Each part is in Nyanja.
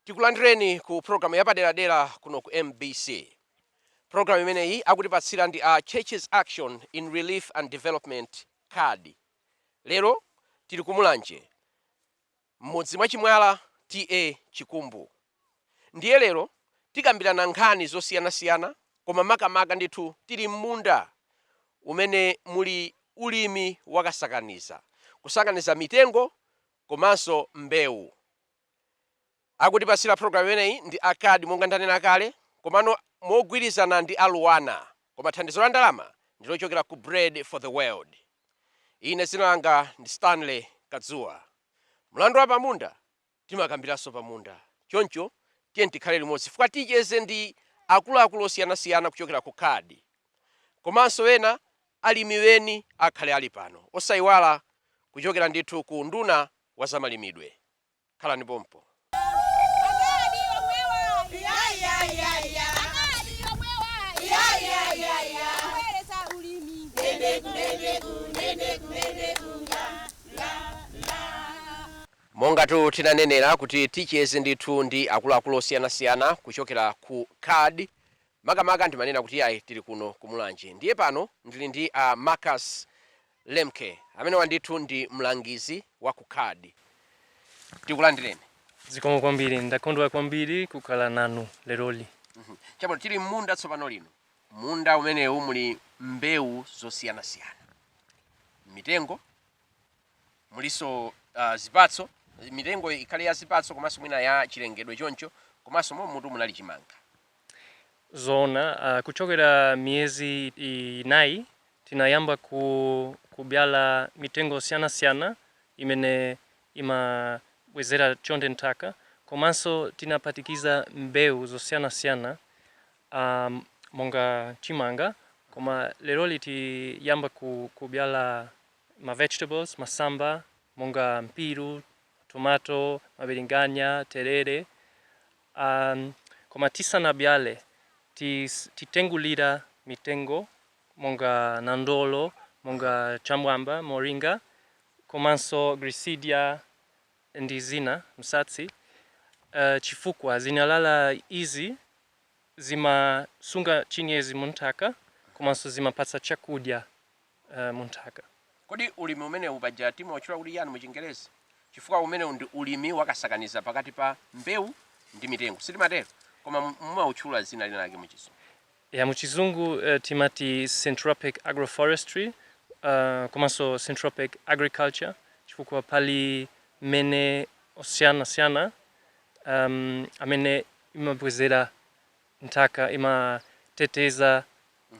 tikulandireni ku programu yapaderadera kuno ku mbc programu imeneyi akutipatsira ndi a churches action in relief and development card lero tili kumulanje M'mudzi mwa Chimwala TA Chikumbu. Ndiye lero tikambirana nkhani zosiyanasiyana koma makamaka ndithu tili m'munda umene muli ulimi wa kasakaniza, kusakaniza mitengo komanso mbewu. Akutipatsira programu imeneyi ndi a card monga ndanena kale komano mogwirizana ndi a Luanar koma thandizo la ndalama ndilochokera ku Bread for the World. Ine dzina langa ndi Stanley Kadzuwa. Mlandu wa pamunda timakambiranso pamunda. Choncho tiyeni tikhale limodzi chifukwa ticheze ndi akuluakulu osiyanasiyana kuchokera ku card. Komanso ena alimi eni akhala ali pano. Osaiwala kuchokera ndithu ku unduna wa zamalimidwe. Khalani pompo. Mongatu tinanenera kuti ticheze ndithu ndi akuluakulu osiyanasiyana kuchokera ku card, makamaka ndimanena kuti iyayi tili kuno ku Mulanje. Ndiye pano ndili ndi a Marcus Lemke, amenewa ndithu ndi mlangizi wa ku card. Tikulandireni. Zikomo kwambiri, ndakondwa kwambiri kukhala nanu leroli. Chabwino, tili m'munda tsopano lino. Munda umenewu muli mbewu zosiyanasiyana, mitengo, mulinso zipatso. Mitengo ikhale ya zipatso komanso mwina ya chilengedwe choncho, komanso mommutu munali chimanga. Zoona, kuchokera miyezi inayi tinayamba kubyala mitengo osiyanasiyana imene imabwezera chonde nthaka komanso tinaphatikiza mbewu zosiyanasiyana monga chimanga koma leroli tiyamba kubyala ma vegetables, masamba monga mpiru, tomato, mabilinganya, terere. Koma tisanabyale titengulira mitengo monga nandolo, monga cham'mwamba, moringa komanso glirisidiya ndi zina, msatsi, chifukwa zinyalala izi zimasunga chinyezi munthaka komanso zimapatsa chakudya. uh, munthaka. Kodi ulimi umenewu paja timautchula kuti yani muchingerezi? Chifukwa umenewu ndi ulimi wakasakaniza pakati pa mbewu ndi mitengo, sitimatero? Koma mumautchula zina lina lake muchizungu. Ya, muchizungu uh, eh, timati syntropic agroforestry uh, komanso syntropic agriculture chifukwa pali mmene osiyanasiyana um, amene imabwezera nthaka imateteza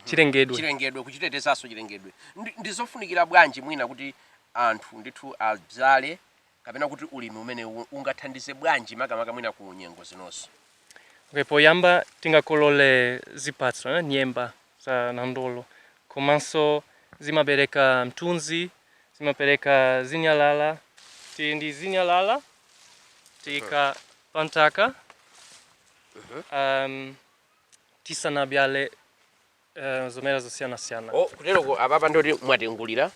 chilengedwe. chilengedwe, kuchitetezanso chilengedwe. Ndi ndi zofunikira bwanji mwina kuti anthu ndithu abzale kapena kuti ulimi umenewu ungathandize bwanji makamaka mwina ku nyengo zinozi? Okay, poyamba tingakolole zipatso, eh, nyemba za nandolo komanso zimapereka mthunzi, zimapereka zinyalala. Tili ndi zinyalala tiika panthaka um, tisanabyale uh, zomera zosiyanasiyana oh, kuteroko apapa ndiye kuti mwatengulira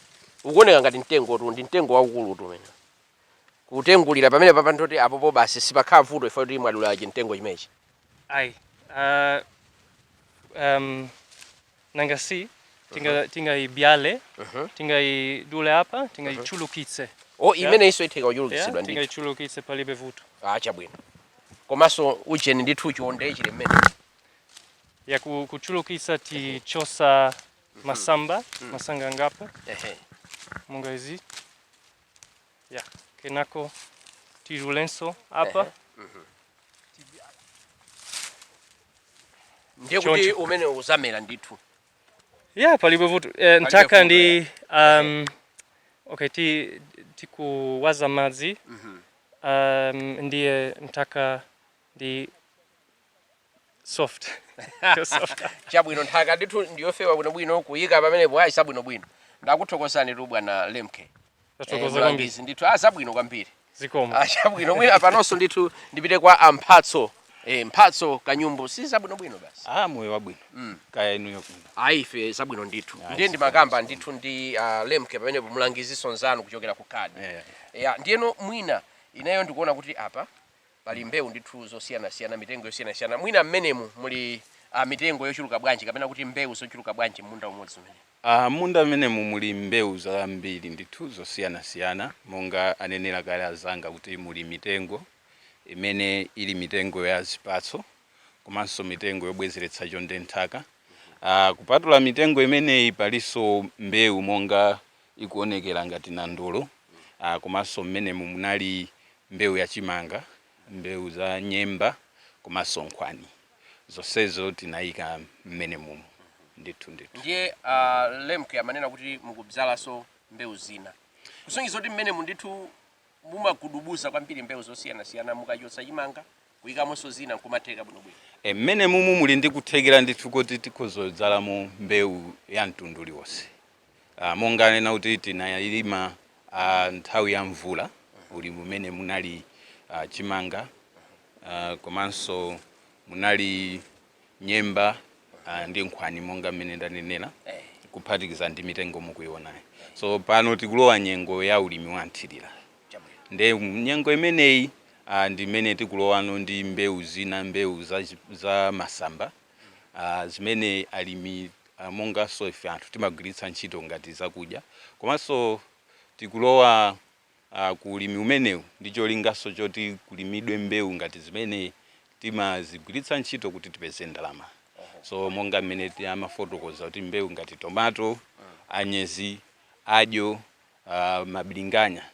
ukuoneka ngati mtengotu ndi mtengo waukulutu umene kutengulira pamenepapa ndiye kuti apopo basi sipakhala vuto ife kuti mwadula chimtengo chimechi ayi uh, um, nanga si tinga tingaibyale tingaidule apa tingaichulukitse o imeneyinso itheka kuchulukitsidwa yeah, ndithu tingaichulukitse palibe vuto ah chabwino komanso ujeni ndithu chonde chili mmene ya ku- kuchulukitsa tichosa masamba masanga ngapo ehe monga izi ya kenako tidulenso apa Ehe. Mhm. ndiye kuti Choncho. umene uzamera ndithu ya palibe vuto eh, nthaka vuto, ndi um, okay ti tikuwaza madzi Mhm. um, ndiye nthaka ndi soft soft chabwino nthaka ndithu ndiyofewa bwinobwino kuyika pamenepo ayi zabwinobwino ndakuthokozanitu bwana lemke tathokoza kwambiri ndithu zabwino ah, kwambiri zikomo ah, chabwino mwina panonso ndithu ndipite kwa a Mphatso Eh, mphatso kanyumbu si zabwinobwino basi ah, moyo wabwino mm. kaya inuyo kuno ayi ife zabwino ndithu ah, ndiye ndimakamba ndithu ndi uh, lemke pamenepo mlangizinso mnzanu kuchokera ku kadi yeah, yeah. yeah, ndiyeno mwina ineyo ndikuona kuti apa Pali mbewu ndithu zosiyanasiyana, mitengo yosiyanasiyana. Mwina m'menemu muli uh, mitengo yochuluka bwanji kapena kuti mbewu zochuluka bwanji m'munda umodzi umene? Uh, munda m'menemu muli mbewu zambiri ndithu zosiyanasiyana monga anenera kale azanga kuti muli mitengo imene ili mitengo ya zipatso komanso mitengo yobwezeretsa chonde m'nthaka. Uh, kupatula mitengo imeneyi palinso mbewu monga ikuonekera ngati nandolo ah, komanso mmenemu munali mbewu ya chimanga mbewu za nyemba komanso nkhwani zonsezo tinayika mmene mumu ndithu ndithu ndiye uh, a Lemke amanena kuti mukubzalanso mbewu zina kusonyeza kuti mmenemu ndithu mumagudubuza kwambiri mbewu zosiyanasiyana mukachotsa chimanga kuyikamonso zina nkumatheka bwinobwino e, mmene mumu muli ndi kuthekera ndithu kuti tikhozodzalamo mbewu ya mtundu uliwonse Ah, monga anena kuti tinalima ah, nthawi ya mvula ulimi umene munali ah, chimanga ah, komanso munali nyemba ah, ndi nkhwani monga mmene ndanenera kuphatikiza ndi mitengo mukuionayi so pano tikulowa nyengo ya ulimi wa nthirira nde nyengo imeneyi ah, ndi imene tikulowano ndi mbewu zina mbewu za, chi- za masamba uh, zimene alimi uh, monganso ife anthu timagwiritsa ntchito ngati zakudya komanso tikulowa uh, ku ulimi umenewu ndi cholinganso choti kulimidwe mbewu ngati zimene timazigwiritsa ntchito kuti tipeze ndalama so monga mmene amafotokoza kuti mbewu ngati tomato anyezi adyo uh, mabilinganya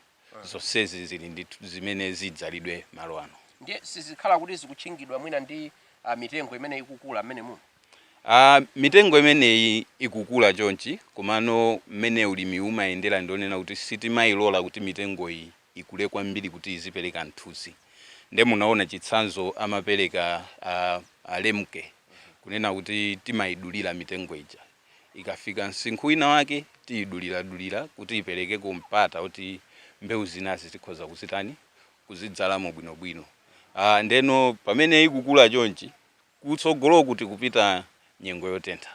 zonsezi zili ndi zimene zidzalidwe malo ano ndiye sizikhala kuti zikutchingidwa mwina ndi ah, mitengo imene ikukula mmene muno Ah, mitengo imeneyi ikukula chonchi komano mmene ulimi umayendera ndi wonena kuti sitimayilola kuti mitengoyi ikule kwambiri kuti izipereka mthunzi nde munaona chitsanzo amapereka ah, a Lemke kunena kuti timayidulira mitengo ija ikafika msinkhu winawake tiyiduliradulira kuti iperekeko mpata kuti mbewu zinazi tikhoza kuzitani kuzidzalamo bwinobwino Ah, ndeno pamene ikukula chonchi kutsogoloku tikupita nyengo yotentha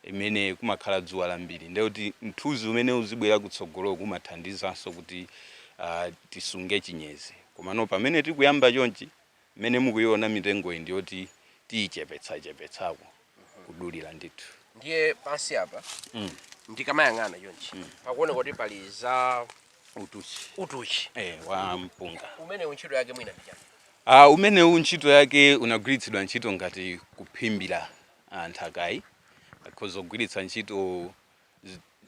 imene kumakhala dzuwa lambiri ndiye kuti mthunzi umene uzibwera kutsogoloku umathandizanso kuti ah, tisunge chinyezi komano pamene tikuyamba chonchi Mmene mukuiona mitengoyi ndi yoti tiichepetsachepetsako, kudulira ndithu. Ndiye pansi apa ndikamayang'ana chonchi pakuoneka kuti pali za Utuchi, utuchi. eh, wa mpunga. Umenewu ntchito yake mwina ndi chani? Ah, umenewu ntchito yake unagwiritsidwa ntchito ngati kuphimbira ah, nthakayi. Akhoza kugwiritsa ntchito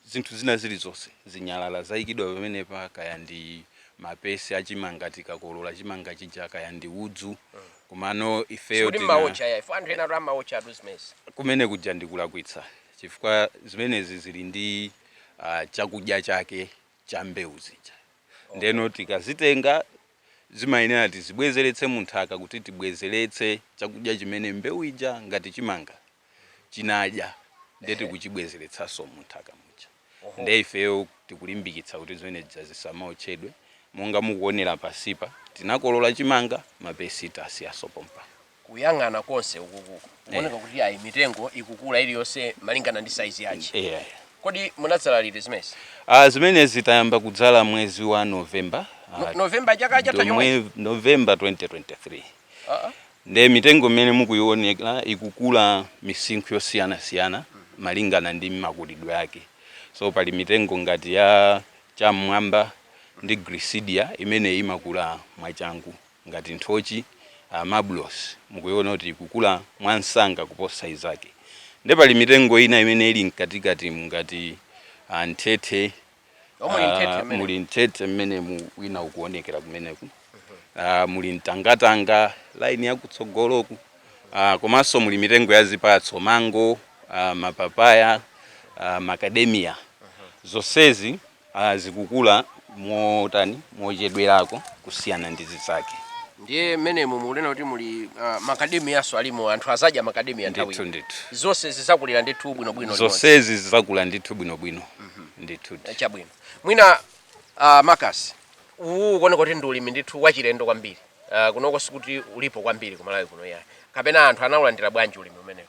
zinthu zina zilizonse, zinyalala zaikidwa pamenepa, kaya ndi mapesi a chimanga tikakolola chimanga chija, kaya ndi udzu. Komano ifeyo Sikuti tina- mmaotcha ya. Ifeyo anthu ena atu amaotcha atu zimenezi. kumene kuja ndikulakwitsa chifukwa zimenezi zili ndi ah, chakudya chake cha mbewu zija ndeno tikazitenga zimayenera tizibwezeretse munthaka kuti tibwezeretse chakudya chimene mbewu ija ngati chimanga chinadya ndi Ehe. tikuchibwezeretsanso munthaka muja Oho. nde ifeyo tikulimbikitsa kuti zimene zija zisamaotchedwe monga mukuonera pansipa tinakolola chimanga mapesi tasiyanso pompano Kuyang'ana konse ukuku kuoneka kuti ayi mitengo ikukula iliyonse malingana ndi saizi yake. yeah, yeah. Kodi munadzala liti zimenezi? Ah, zimenezi tayamba kudzala mwezi wa novemba No- November chaka chatha chomwe. Novemba 2023 Ah, ah. Nde mitengo mmene mukuionera ikukula misinkhu yosiyanasiyana malingana ndi makulidwe ake. So pali mitengo ngati ya cham'mwamba ndi glisidia imene imakula mwachangu ngati nthochi, mabulosi mukuiona kuti ikukula mwansanga kuposa izake. Nde pali mitengo ina imene ili mkatikatimu ngati mthethe omwe ah, mthethe mmene muli mthethe mmenemu wina ukuonekera kumeneku ah, muli mtangatanga laini yakutsogoloku ah, komanso muli mitengo ya zipatso mango ah, mapapaya ah, macadamia zonsezi ah, zikukula mochedwerako kusiyana ndi zizake ndiye mmenemu mukunena kuti muli ah, makademiyanso alimo anthu azadya makademiya ndithu nthawi ndithu zonse zizakulira ndithu bwinobwino limodzi. zonsezi zizakula ndithu bwinobwino ndithudi chabwino mwina uh, marcus uwu ukuoneka kuti ndi ulimi ndithu wachilendo kwambiri uh, kunoko sikuti ulipo kwambiri kumalawi kuno iyayi kapena anthu anaulandira bwanji ulimi umenewu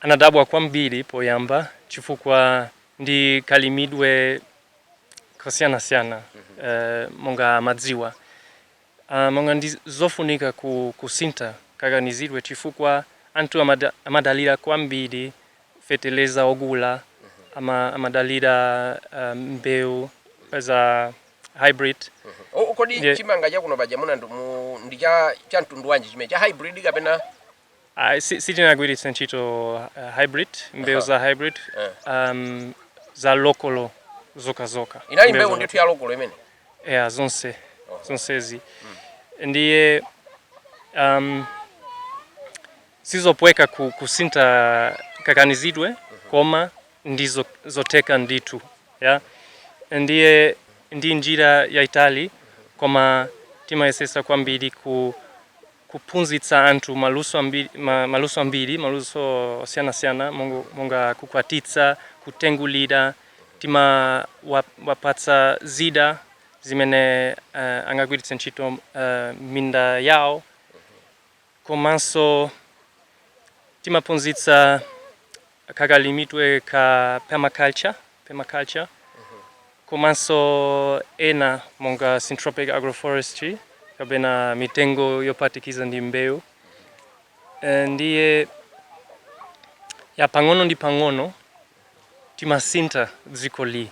anadabwa kwambiri poyamba chifukwa ndi kalimidwe kosiyanasiyana uh, monga amadziwa a Monga ndi zofunika ku kusintha kaganizidwe chifukwa anthu amadalira kwambiri feteleza ogula, amadalira mbewu za hybrid. Kodi chimanga chakuno paja munandiu- ndi cha cha mtundu wanji chimene cha hybrid kapena? Ah, si- sitinagwiritse ntchito uh, hybrid mbewu za hybrid um, za lokolo zokhazokha inali Mbewu mbewu za ndithu ya lokolo imene lokolo. yeah, zonse zonsezi ndiye um, sizopweka ku, kusinta kaganizidwe koma ndi zotheka ndithu yeah? ndiye ndi njira yaitali koma timayesesa kwambiri ku kuphunzitsa anthu maluso ambiri, ma, maluso ambiri, maluso osiyanasiyana mongo- monga kukwatitsa, kutengulira. Timawapatsa zida zimene eh, angagwiritse ntchito eh, minda yawo komanso timaphunzitsa Kakalimidwe ka permaculture komanso ena monga syntropic agroforestry kapena mitengo yophatikiza ndi mbewu Eh, ndiye ya pang'ono ndi pang'ono timasintha dzikoli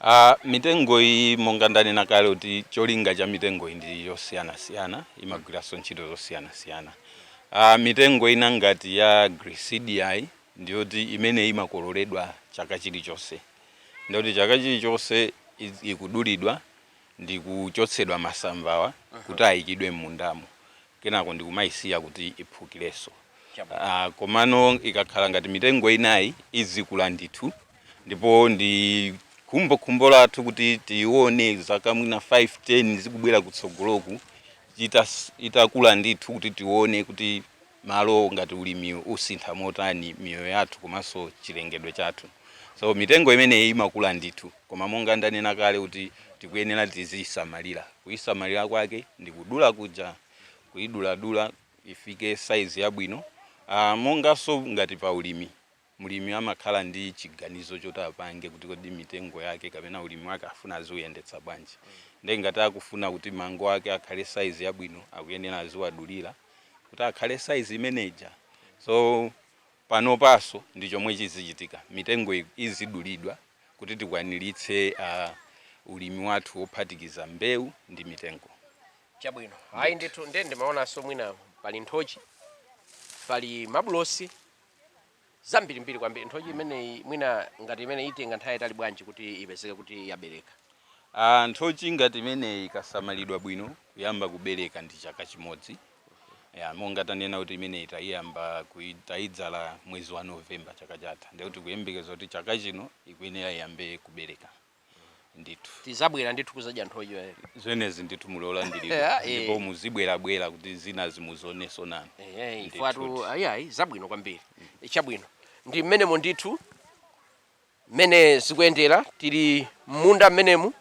A, mitengo iyi monga ndanena kale kuti cholinga cha mitengo iyi ndi yosiyanasiyana, imagwiranso ntchito zosiyanasiyana. A, mitengo ina ngati ya Gliricidiayi ndi yoti imeneyi imakololedwa chaka chilichonse. Ndiye kuti chaka chilichonse ikudulidwa ndi kuchotsedwa masambawa kuti ayikidwe m'mundamo. kenako ndikumaisiya kuti iphukirenso uh, komano ikakhala ngati mitengo inayi izikula ndithu ndipo ndi khumbokhumbo lathu kuti tione zaka mwina 5 10 zikubwera kutsogoloku itakula ndithu kuti tione kuti malo ngati ulimi usintha motani miyoyo yathu komanso chilengedwe chathu so mitengo imeneyi imakula ndithu Koma monga ndanena kale kuti tikuyenera tiziyisamalira. Kuyisamalira kwake ndi kudula kuja, kuyiduladula ifike size yabwino. Monganso ngati pa ulimi, mlimi amakhala ndi chiganizo choti apange kuti kodi mitengo yake kapena ulimi wake afuna aziwuyendetsa bwanji. Ndiye ngati akufuna kuti mango ake akhale size yabwino akuyenera aziwadulira kuti akhale size imeneija. So. Panopanso ndi chomwe chizichitika mitengo izidulidwa kuti tikwaniritse ulimi wathu wophatikiza mbewu ndi mitengo. Chabwino. Ayi ndithu nde ndimaonanso mwina pali nthochi, pali mabulosi, zambirimbiri kwambiri. Nthochi imeneyi mwina ngati imeneyi itenga nthawi yayitali bwanji kuti ipezeke kuti yabereka? Nthochi ngati imeneyi ikasamalidwa bwino kuyamba kubereka ndi chaka chimodzi. ya monga tanena kuti imeneyi tayiyamba kui- tayidzala mwezi wa novemba chaka chatha ndiye kuti kuyembekeza kuti chaka chino ikuyenera iyambe kubereka ndithu tizabwera ndithu kuzadya nthochi imeneyi. zimenezi ndithu muli olandiridwa Yeah, eh. ndipo muzibwerabwera kuti zina muzizionenso nanu Ehe, Ndithu. ifatu ayayi zabwino kwambiri chabwino ndi mmenemo ndithu Mmene zikuyendera, tili m'munda mmenemu.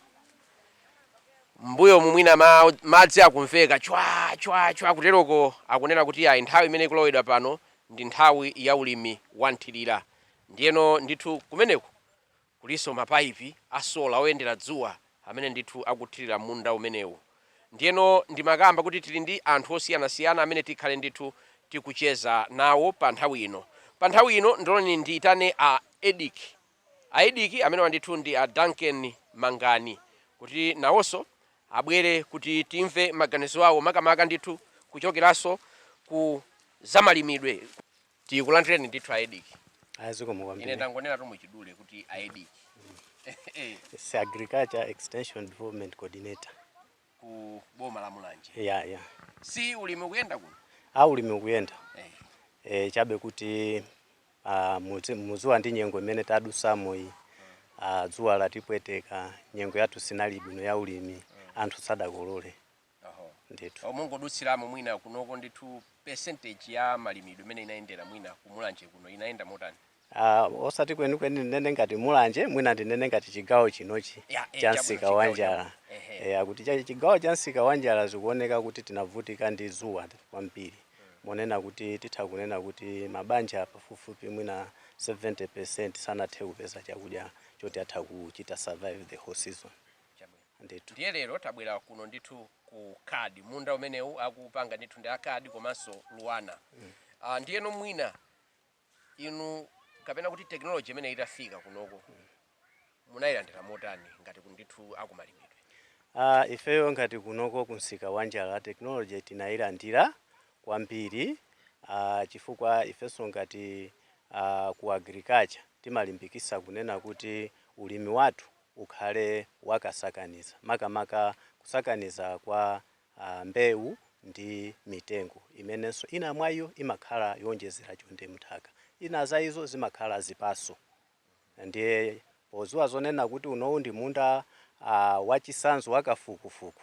M'mbuyomu mwina madzi akumveka chwa! chwa! chwa! kuteroko akunena kuti ayi, nthawi imene ikulowedwa pano ndi nthawi ya ulimi wamthirira. Ndiyeno ndithu kumeneku kulinso mapaipi a sola oyendera dzuwa. amene ndithu akuthirira munda umenewu. Ndiyeno ndimakamba kuti tili ndi anthu osiyanasiyana amene tikhale ndithu tikucheza nawo pa nthawi ino. Pa nthawi ino ndiloleni ndiitane a Edick. A Edick, amenewa ndithu ndi a Duncan Mangani kuti nawonso abwere kuti timve maganizo awo makamaka ndithu kuchokeranso ku zamalimidwe. tikulandireni ndithu aediki aziko mukwambiri ine ndangonena tu mwachidule kuti aediki ndi agriculture extension development coordinator ku boma la mulanje ya ya si ulimi ukuyenda kuno a ulimi ukuyenda eh. e, chabe kuti uh, muziwa nyengo nyengo imene tadusamo iyi uh, dzuwa latipweteka nyengo yathu sinali bwino ya ulimi anthu sadakolole Oho. ndithu Oh, mungodutsiramo mwina kunoko ndithu percentage ya malimidwe imene inayendera mwina kumulanje kuno inayenda motani Ah, osati kwenikweni ndinene ngati mulanje mwina ndinene ngati chigawo chinochi Ya, eh, cha chabwino, msika wa njala Ehe. Eh, kuti cha- chigawo cha msika wa njala zikuoneka kuti tinavutika ndi dzuwa kwambiri monena kuti titha kunena kuti mabanja pafupifupi mwina 70 percent sanathe kupeza chakudya choti atha kuchita survive the whole season Chabwino. Ndithu. Ndiye lero tabwera kuno ndithu ku card munda umenewu akupanga ndithu ndi a card komanso Luana. Ah, ndiyeno mwina inu kapena kuti technology imene itafika kunoko munayilandira motani ngati ndithu akumalimidwe. Ah, ifeyo ngati kunoko ku msika wa njala technology tinayilandira kwambiri ah, chifukwa ifenso ngati ah, ku agriculture timalimbikisa kunena kuti ulimi wathu ukhale wa kasakaniza, makamaka kusakaniza kwa mbewu ndi mitengo, imenenso ina mwa iyo imakhala yowonjezera chonde m'nthaka, ina za izo zimakhala zipatso. Ndiye podziwa zonena kuti unowu ndi munda wachisanzo wa kafukufuku,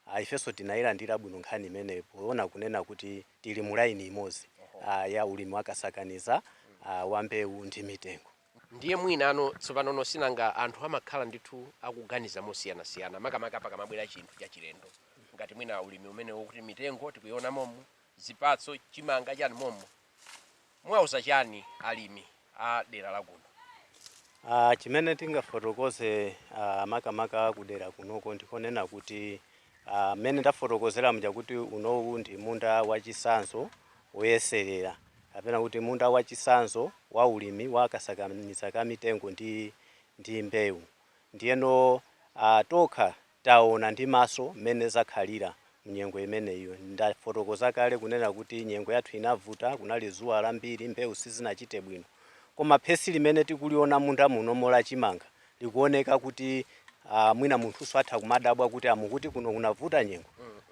ah, ifenso tinayilandira bwino nkhani imeneyo poona kunena kuti tili mu laini imodzi ah, ya ulimi wakasakaniza ah, wa mbewu ndi mitengo ndiye mwinano tsopano nosinanga anthu amakhala ndithu akuganiza mosiyanasiyana makamaka pakamabwera chinthu chachilendo ngati mwina ulimi umenewo kuti mitengo tikuiona momo zipatso chimanga chani momo Muwauza chani alimi a dera la kuno? A, chimene tingafotokoze a, makamaka kudera kunoko ndikonena kuti a, mmene ndafotokozera muja kuti unowu ndi munda wachisanzo woyeserera kapena kuti munda wachisanzo wa ulimi wa kasakaniza ka mitengo ndi ndi mbewu ndiyeno a, tokha Taona ndi maso mmene zakhalira mnyengo imeneyo. Ndafotokoza kale kunena kuti nyengo yathu inavuta, kunali dzuwa lambiri, mbewu sizinachite bwino. Koma phesi limene tikuliona munda munomo la chimanga likuoneka kuti aah mwina munthunso atha kumadabwa kuti aah mukuti kuno kunavuta nyengo?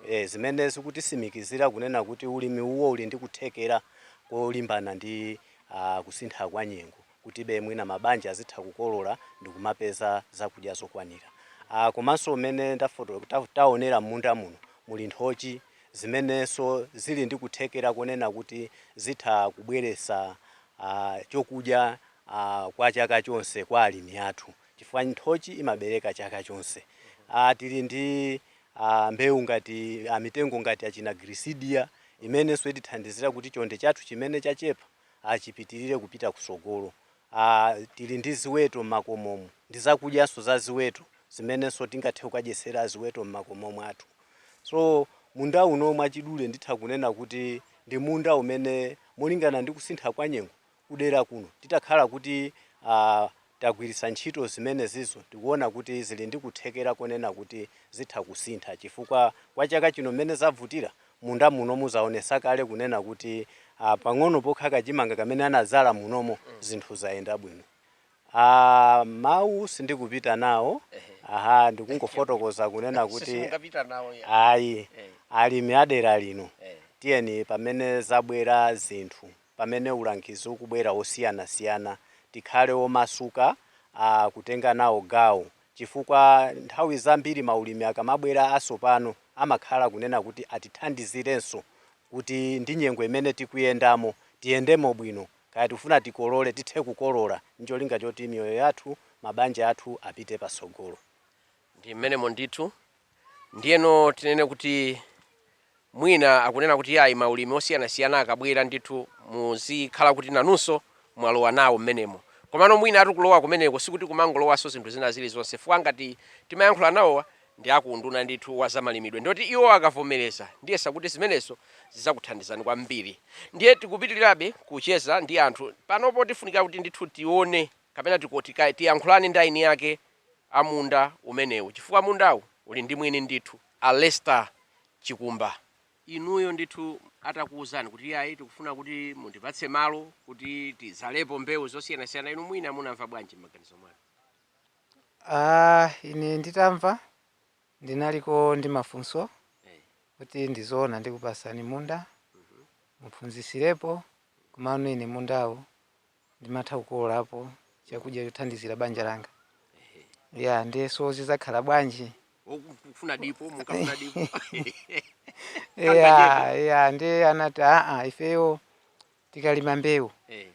Eeh zimene zikutisimikizira kunena kuti ulimi uwo uli ndi kuthekera kolimbana ndi aah kusintha kwa nyengo. kutibe mwina mabanja azitha kukolola ndikumapeza zakudya zokwanira. Aaa komanso mmene taonera mmunda muno muli nthochi zimenenso zili ndi kuthekera konena kuti zitha kubweretsa aah chokudya aah kwa chaka chonse kwa alimi athu chifukwa nthochi imabereka chaka chonse. Aah tili ndi aah mbewu ngati aah mitengo ngati achina girisidiya imenenso itithandizira kuti chonde chathu chimene chachepa, achipitirire kupita kutsogolo. a Tili ndi ziweto m'makomomu ndi zakudyanso za ziweto zimenenso tingathe kukadyetsera ziweto m'makomo mwathu. So munda uno mwachidule nditha kunena kuti ndi munda umene molingana ndi kusintha kwa nyengo kudera kuno titakhala kuti a tagwiritsa ntchito zimenezizo ndikuona kuti zili ndi kuthekera konena kuti zitha kusintha chifukwa kwa chaka chino mmene zavutira, munda muno mwaonetsa kale kunena kuti pang'ono pokha kachimanga kamene anadzala munomo zinthu zayenda bwino. Aaa mawu sindikupita nawo aha ndikungofotokoza kunena kuti ayi alimi a dera lino tiyeni pamene zabwera zinthu. pamene ulangizi ukubwera wosiyanasiyana tikhale omasuka a kutenga nawo gawo chifukwa nthawi zambiri maulimi akamabwera asopano amakhala kunena kuti atithandizirenso kuti ndi nyengo imene tikuyendamo tiyendemo bwino kaya tikufuna tikolole tithe kukolola ncholinga choti miyoyo yathu mabanja athu apite patsogolo. Ndi mmenemo ndithu. Ndiyeno tinene kuti mwina akunena kuti yayi maulimi osiyanasiyana akabwera ndithu muzikhala kuti nanunso mwalowa nawo mmenemo. Komano mwinatu kulowa kumeneko sikuti kumangolowanso zinthu zina zilizonse chifukwa ngati timayankhula nawowa ndi a ku unduna ndithu wa zamalimidwe ndiye kuti iwo akavomereza ndiyesakuti zimenezo zidzakuthandizani kwambiri. Ndiye tikupitirirabe kucheza ndi anthu. Panopo tifunika kuti ndithu tione kapena tiyankhulane ndi eni ake a munda umenewu chifukwa mundawu uli ndi mwini ndithu, a Lester Chikumba. Inuyo ndithu atakuuzani kuti iyayi tikufuna kuti mundipatse malo kuti tidzalepo mbewu zosiyanasiyana, inu mwina munamva bwanji m'maganizo mwanu? Ine nditamva ndinaliko ndi mafunso kuti ndi zoona ndikupatsani munda muphunzitsirepo komano ine mundawu ndimatha kukololapo chakudya chothandizira banja langa ya ndiyeso zidzakhala bwanji mukufuna dipo mukafuna dipo ya ya ndiye anati aa ifeyo tikalima mbewu Eh,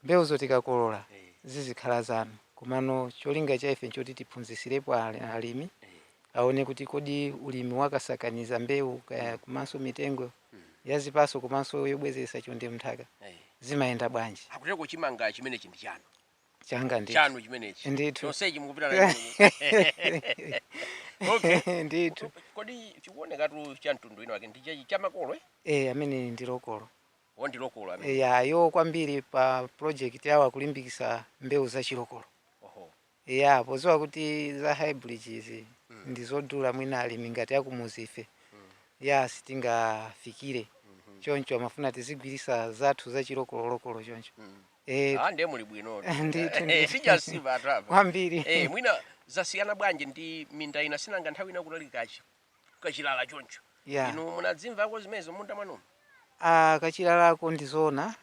mbewuzo tikakolola eh, zizikhala zanu komano cholinga cha ife nchoti tiphunzisirepo ali- alimi aone kuti kodi ulimi wakasakaniza mbewu komanso mitengo mm. ya zipaso komanso yobwezeretsa chonde mnthaka hey. zimayenda bwanji Agudeko chimanga chimenechi ndi chanu changa ndi chanu chimenechi ndithu chonsechi mukupitamo okay ndithu kodi chikuoneka tu cha mtundu wina wake ndi cha makolo eh eh amene ndi lokolo oh ndi lokolo amene eh iwo kwambiri pa project yawo akulimbikisa mbewu za chilokolo Eya, podziwa kuti za hybrid izi ndizodula mwina alimi ngati akumudzife ya sitingafikire choncho amafuna tizigwiritsa zathu za chilokolo lokolo choncho Eh, Ah, ndiye muli bwino ndithu ndithu. sichasiya athu apa kwambiri Eh, mwina zasiyana bwanji ndi minda ina sinanga nthawi ina kunali kachi kachilala choncho ya inu munazimvako zimenezo munda mwanumo Ah, kachilalako ndizoona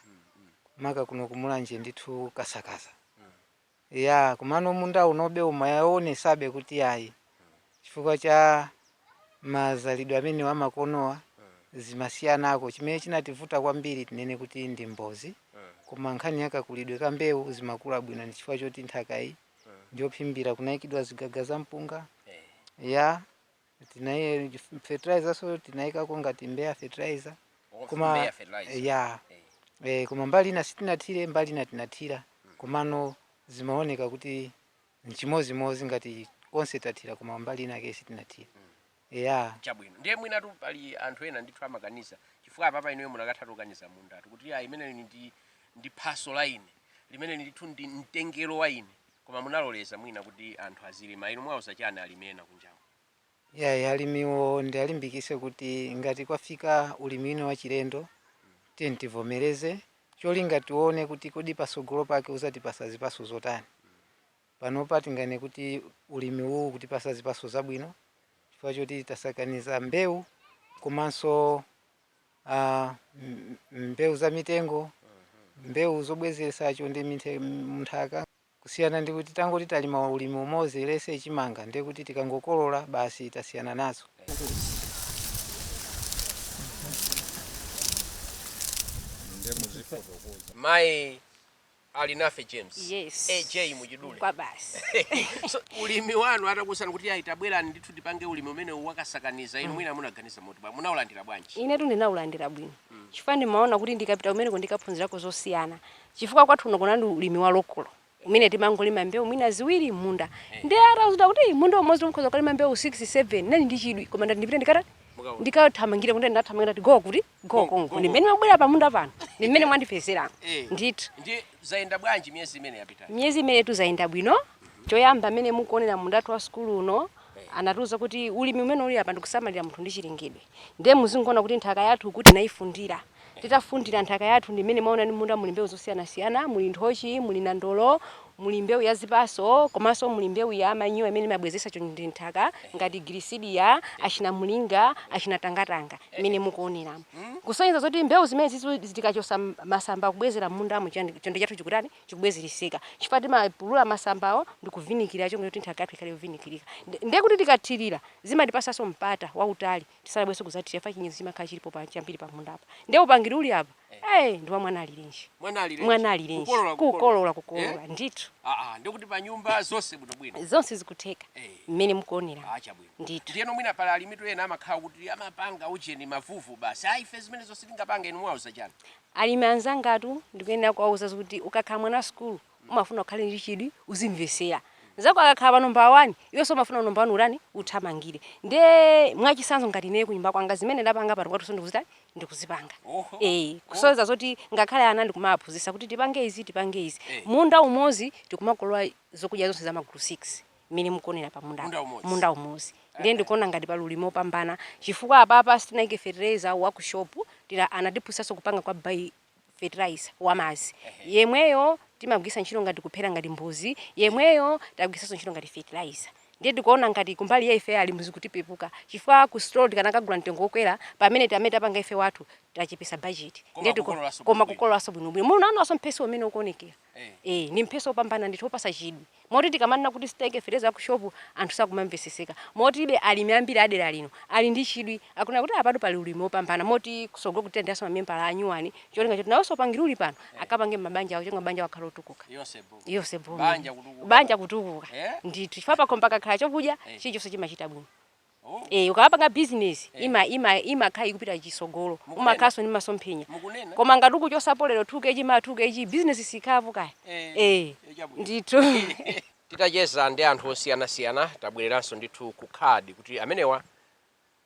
maka kuno ku Mulanje ndithu kasakaza Eya, komano munda unobe umaonetsabe kuti yayi chifukwa cha mazalidwe amenewa amakonowa zimasiyanako. Chimene chinativuta kwambiri tinene kuti ndi mbozi koma nkhani ya kakulidwe ka mbewu zimakula bwino ndi chifukwa choti nthakayi ndi yophimbira, kunaikidwa zigaga za mpunga. Eya. tinaika fertilizer-nso tinayikako ngati mbewu ya fertilizer koma ya eh, koma mbali ina sitinathire mbali ina tinathira komano zimaoneka kuti nchimozimozi ngati konse tathira koma mbali inake sitinathira ya chabwino ndiye mwinatu pali anthu ena ndithu amaganiza chifukwa apapa inuyo mukanatha kukaniza mundawu kuti ayi imeneyo ndi ndi phatso la ine limene ndithu ndi mtengo wa ine Koma munaloleza mwina kuti anthu azilima, inu muwauza chani alimi ena kunjaku? Yayi alimiwo ndialimbikise kuti ngati kwafika ulimi wina wachilendo tiyeni tivomereze cholinga tione kuti kodi pasogolo pake uzatipasa zipaso zotani. Panopa tinganene kuti ulimi uwu ukutipasa zipaso zabwino chifukwa choti tasakaniza mbewu komanso. ah, m- m- mbewu za mitengo mbewu zobwezeretsa chonde minthe- m- mnthaka kusiyana ndi kuti tangoti talima ulimi umodzi let's say chimanga ndiye kuti tikangokolola basi tasiyana nazo mayi Alinafe James Yes. AJ mwachidule kwa basi so, ulimi wanu atakuuzani kuti ayi tabwerani ndithu tipange ulimi umene wakasakaniza inu mwina munaganiza motani munaulandira bwanji inetu ndinaulandira bwino chifukwa ndimaona kuti ndikapita kumeneko ndikaphunzirako zosiyana chifukwa kwathu kuno kunali ulimi wa lokolo umene timangolima mbewu mwina ziwiri munda ndiye atatiuza kuti munda umodzi ukhoza kulima mbewu 6 7 ndinali ndi chidwi koma ndiyeti ndipite ndikata Mukaona. ndikathamangire kuti ndathamangira tigowa kuti Nkoko, Nkoko. nkoko. Ndimene mwabwera pamunda pano. Ndimene mwandipezera. Eh. Ndithu. Ndi zayenda bwanji miyezi imene yapita? Miyezi imene tuzayenda bwino. Choyamba amene mukuonera mundawu wa sukulu uno anatiuza kuti ulimi umene uli apa ndikusamalira munthu ndi chilengedwe. Ndiye muzingoona kuti nthaka yathu kuti tinaifundira. Titafundira nthaka yathu ndimene mwaona m'munda muli mbewu zosiyanasiyana, muli nthochi, muli nandolo, Muli mbewu ya zipatso komanso muli mbewu ya manyowa imene imabwezeretsa chonde m'nthaka ngati gilisidiya, achinamulinga, achinatangatanga mmene mukuoneramu. Kusonyeza zoti mbewu zimenezitu tikachotsa masamba kubwezera m'mundamu chonde chathu chikutani, chikubwezereseka chifukwa timapulula masambawo ndi kuvinikira chonde kuti nthaka yathu ikhale yovinikirika. Ndiye kuti tikathirira zimatipatsanso mpata wautali. tisanabwerenso kudzathira chifukwa chinyezi chimakhala chilipo pa chambiri pa munda apa ndiye upangiri uli apa eh ndi wa mwana alirenji Mwana alirenji. mwana alirenji Kukolola, kukolola kukolola. kukolola Eh? ndithu aa ndikuti pa nyumba zonse bwinobwino zonse zikutheka Eh. mmene mukuonera aa chabwino ndithu ndiyeno mwina pali alimitu ena amakhala kuti amapanga ujeni mavuvu basi ayi ife zimene zonse tingapange inu muwauza chani alimi anzangatu ndikuyenera kuwauza kuti ukakhala mwana wa sukulu Umafuna ukhale ndi chidwi, uzimvetsera. Mnzako akakhala pa nombala wani, iwenso umafuna nombala wani utani? Uthamangire. Ndiye mwachitsanzo ngati ineyo kunyumba kwanga zimene ndapanga pano kwathunso ndikuzitani? Ndikuzipanga. Ee, kusonyeza zoti ngakhale ana ndikumawaphunzitsa kuti tipange izi, tipange izi. Munda umodzi tikumakolola zokudya zonse za magulu 6 mmene mukuonera pa mundapo. Munda umodzi. Munda umodzi. Ndiye ndikuona ngati pali ulimi wopambana chifukwa apapa sitinaike fetereza wa ku shopu, tira anatiphunzitsanso kupanga kwa bio fertilizer wamadzi yemweyo timagwiritsa ntchito ngati kuphera ngati mbozi yemweyo tagwiritsanso ntchito ngati fertilizer ndiye tikuona ngati kumbali ya ife alimi zikutipepukira chifukwa ku store tikanakagula mtengo wokwera pamene tamene tapanga ife wathu tachepesa budget ndiye koma kukololanso koma bwinobwino. kukololanso bwinobwino munaonanso mphesi umene ukuonekera eh ndi mphesi opambana ndithu opasa chidwi Moti tikamanena kuti sitinaike fertilizer waku shop anthu sakumamveseseka moti ife alimi ambiri a dera lino ali ndi chidwi akunena kuti apatu pali ulimi wopambana moti kusogolo tilandiranso ma membala anyuwani cholinga choti nawonso upangiri uli pano akapange mmabanja awo cholinga mabanja awo akhale otukuka eya onse bo banja kutukuka ndithu chifukwa pakhomo pakakhala chokudya chilichonse chimachita bwino. Oh. Eh, ukapanga business eh. ima ima imakhala ikupita chitsogolo umakhalanso ndi masomphenya koma ngati ukuchotsapo lero 2 kg ma 2 kg business siikhala pukaya eh, eh, eh ndithu titacheza ndi anthu osiyana siyana tabwereranso ndithu ku CADI kuti amenewa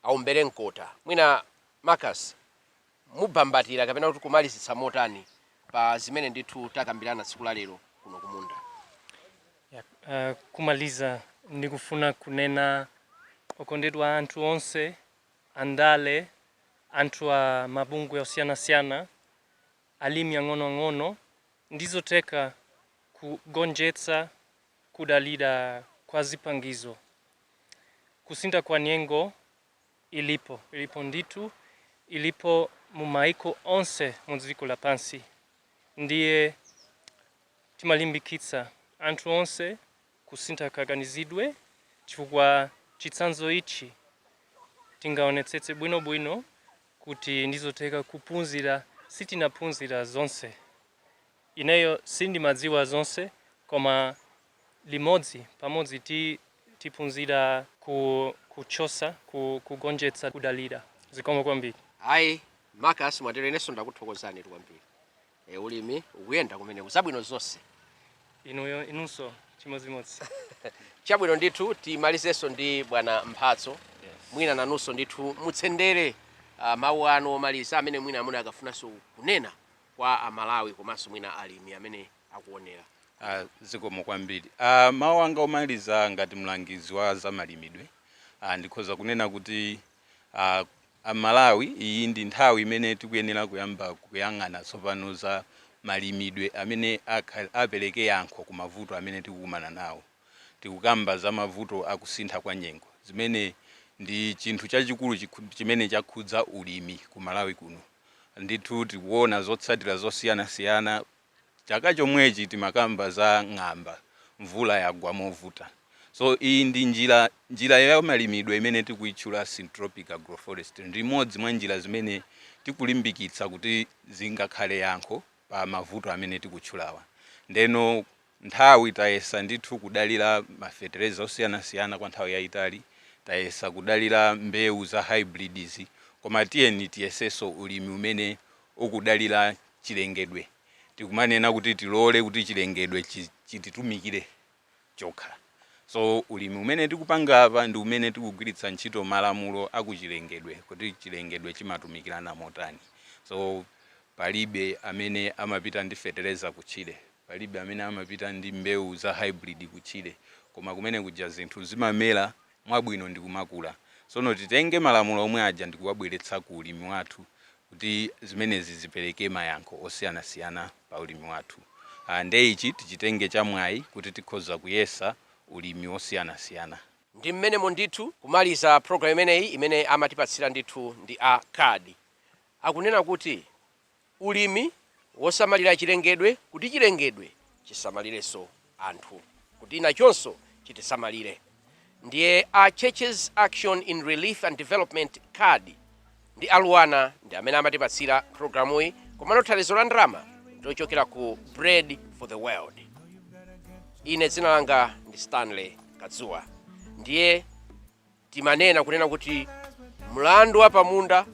aumbere mkota mwina Marcus mungambatire kapena kuti kumalizitsa motani pa zimene ndithu takambirana tsiku la lero kuno ku munda? Yeah, uh, kumaliza ndikufuna kunena okondedwa anthu onse andale anthu a mabungwe osiyanasiyana alimi ang'onoang'ono ndizotheka kugonjetsa kudula kwa zipangizo kusintha kwa nyengo ilipo ilipo ndithu ilipo mu maiko onse mu dziko lapansi ndiye timalimbikitsa anthu onse kusintha kaganizidwe chifukwa chitsanzo ichi tingaonetsetse bwino bwino kuti ndizotheka kupunzira sitinaphunzira zonse Ineyo sindimadziwa zonse koma limodzi pamodzi ti tiphunzira ku kuchotsa ku kugonjetsa kudalira. Zikomo kwambiri. Ayi Marcus mwatero inenso ndakuthokozanitu kwambiri ee ulimi ukuyenda kumeneko zabwino zonse. Inuyo inunso chimodzimodzi. Chabwino ndithu timalizenso ndi bwana Mphatso mwina nanunso ndithu mutsendere mawu anu omaliza amene mwina mukanafunanso kunena kwa amalawi komanso mwina alimi amene akuonera Ah, zikomo kwambiri Ah, mawu anga omaliza ngati mlangizi wa zamalimidwe ah, ndikhoza kunena kuti ah, amalawi iyi ndi nthawi imene tikuyenera kuyamba kuyang'ana tsopano za malimidwe amene akha- apereke yankho ku mavuto amene tikukumana nawo tikukamba za mavuto akusintha kwa nyengo zimene ndi chinthu chachikulu chikhu- chimene chakhudza ulimi ku malawi kuno Ndithu tikuona zotsatira zosiyanasiyana. Chaka chomwechi timakamba za ng'amba, mvula yagwa movuta. So iyi ndi njira, njira ya malimidwe imene tikuitchula Syntropic Agroforestry ndi imodzi mwa njira zimene tikulimbikitsa kuti zingakhale yankho pa mavuto amene tikutchulawa. Ndeno nthawi tayesa ndithu kudalira mafetereza osiyanasiyana kwa nthawi yayitali, tayesa kudalira mbewu za hybrids koma tiyeni tiyesenso ulimi umene ukudalira chilengedwe tikumanena kuti tilole kuti chilengedwe chititumikire chokha so ulimi umene tikupanga apa ndi umene tikugwiritsa ntchito malamulo akuchilengedwe kuti chilengedwe chimatumikirana motani so palibe amene amapita ndi fetereza kutchire. Palibe amene amapita ndi mbewu za hybrid kutchire koma kumene kuja zinthu zimamera mwabwino ndi kumakula. Sono titenge malamulo omwe aja ndi kuwabweretsa ku ulimi wathu kuti zimenezi zipereke mayankho osiyanasiyana pa ulimi wathu. Nde ichi tichitenge cha mwayi kuti tikhoza kuyesa ulimi wosiyanasiyana. Ndi m'menemo ndithu kumaliza programu imeneyi imene amatipatsira ndithu ndi a CARD akunena kuti ulimi wosamalira chilengedwe kuti chilengedwe chisamalirenso anthu kuti nachonso chitisamalire ndiye a Churches Action in Relief and Development, CARD, ndi a LUANAR ndi amene amatipatsira programuyi komano thandizo la ndalama ndi lochokera ku Bread for the World. Ine dzina langa ndi Stanley Kadzuwa ndiye Timanena kunena kuti mlandu wa pamunda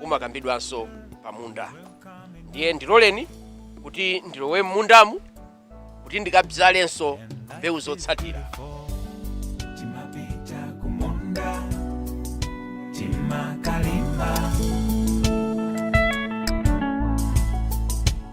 umakambidwanso pamunda. Ndiye ndiloleni kuti ndilowe m'mundamu kuti ndikabzalenso mbewu zotsatira. Timapita kumunda, timakalima.